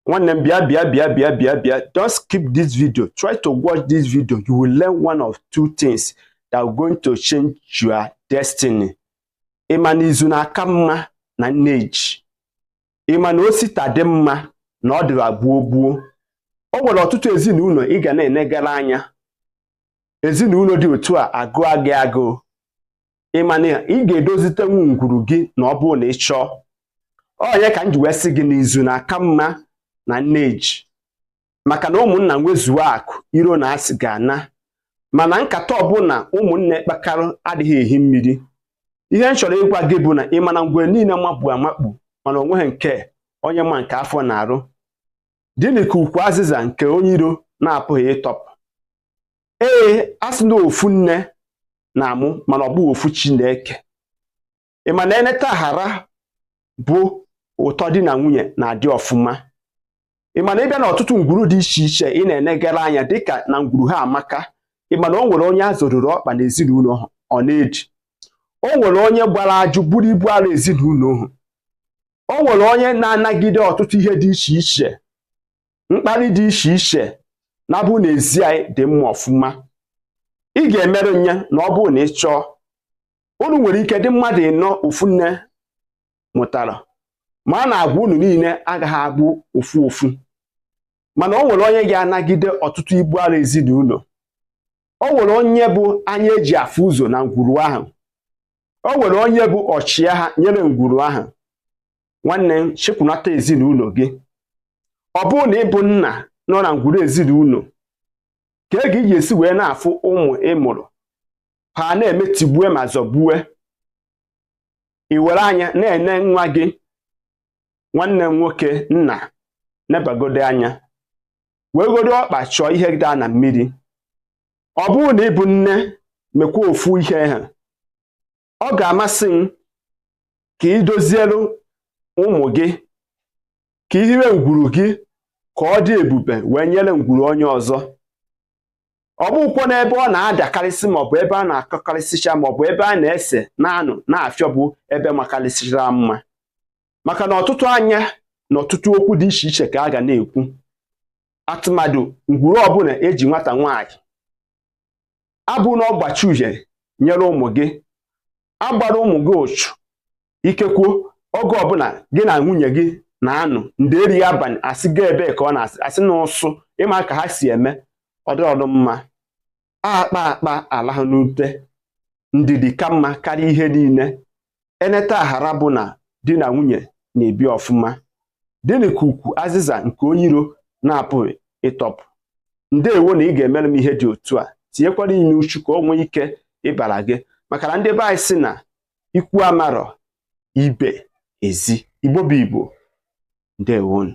nwanne m bịa bịa bịa bịa bịa bịa don't skip this video try to watch this video you will learn one of two things that are going to change your destiny ị ma na izu na-aka mma na nneji ị ma na o si taa dị mma na ọ dịra gboo gboo o nwere ọtụtụ ezinụlọ ị ga na-enegara anya ezinụlọ dị otu a agụ gị agụụ ị ma na ị ga-edozitenwu ngwuru gị na ọ bụrụ na ị chọọ ọ nya ka m ji wee sị gị na izu na-aka mma na nne ji maka na ụmụnna nwezuo akụ iro na asị ga-ana mana nkata ọbụla ụmụnne kpakara adịghị ehi mmiri ihe m chọrọ ịgwa gị bụ na ị ma na ngwere niile makpu amakpu mana o nweghị nke onye ma nke afọ na-arụ Dịnị ka ukwu azịza nke onye iro na-apụghị ịtọpụ. Ee, a sị na ofu nne na-amụ mana ọ bụghị ofu chi na-eke. Ị ma na e neta ghara bụ ụtọ di na nwunye na-adị ọfụma. Ị ma na ị bịa n'ọtụtụ ngwuru dị iche iche ị na-enegara anya dịka na ngwuru ha amaka ị ma na o nwere onye a zọrụrụ ọkpa n'ezinụlọ ahụ ọ na-eji o nwere onye gbara ajụ buru ibu arọ ezinụlọ ahụ o nwere onye na-anagide ọtụtụ ihe dị iche iche mkpali dị iche iche na bụ n'ezi anyị dị mma ọfụma ị ga-emerụ nya na ọ bụrụ na ị chọọ unu nwere ike dị mmadụ ịnọ ofu nne mụtara mana agwa unu niile agaghị abụ ofu ofu mana o nwere onye ga-anagide ọtụtụ ibu arọ ezinụlọ o nwere onye bụ anya e ji afụ ụzọ na ngwuru ahụ o nwere onye bụ ọchịagha nyere ngwuru ahụ nwanne m chịkọnata ezinụlọ gị ọ bụrụ na ị bụ nna nọ na ngwuru ezinụlọ kee ka ị ga-esi wee na-afụ ụmụ ị mụrụ ha na-eme tigbue ma zọgbue i were anya na-ene nwa gị nwanne m nwoke nna nebagodi anya wegodi ọkpa chọọ ihe daa na mmiri ọ bụrụ na ị bụ nne mekwa ofu ihe a ọ ga-amasị m ka ị dozielu ụmụ gị ka i hiwe ngwuru gị ka ọ dị ebube wee nyere ngwuru onye ọzọ ọ bụghịkwa na ebe ọ na-adakarịsị maọbụ ebe a na-akọkarịsịcha maọbụ ebe a na-ese na-anụ na-afịọ bụ ebe makarịsịchara mma maka na ọtụtụ anya na ọtụtụ okwu dị iche iche ka a ga na-ekwu atụmatụ ngwuru ọbụla eji nwata nwaanyị abụna ọgbachi uhie nyere ụmụ gị agbara ụmụ gị ụchụ ikekwu oge ọbụla gị na nwunye gị na-anụ ndeeri abalị asị ga ebe ka ọ na-asị a sị na ụsụ ịma ka ha si eme ọdọọdụ mma akpaa akpaa alaha n'ute ndidi ka mma karịa ihe niile eneta aghara bụ na di na nwunye na-ebi ọfụma dịnị ka ukwu azịza nke onye iro na-apụghị ịtọpụ ndewo na ị ga-emere m ihe dị otu a tinyekwara ime uchu ka o nwee ike ịbara gị maka na ndị be anyị sị na ikwu amarọ ibe ezi igbo bụ igbo ndewonụ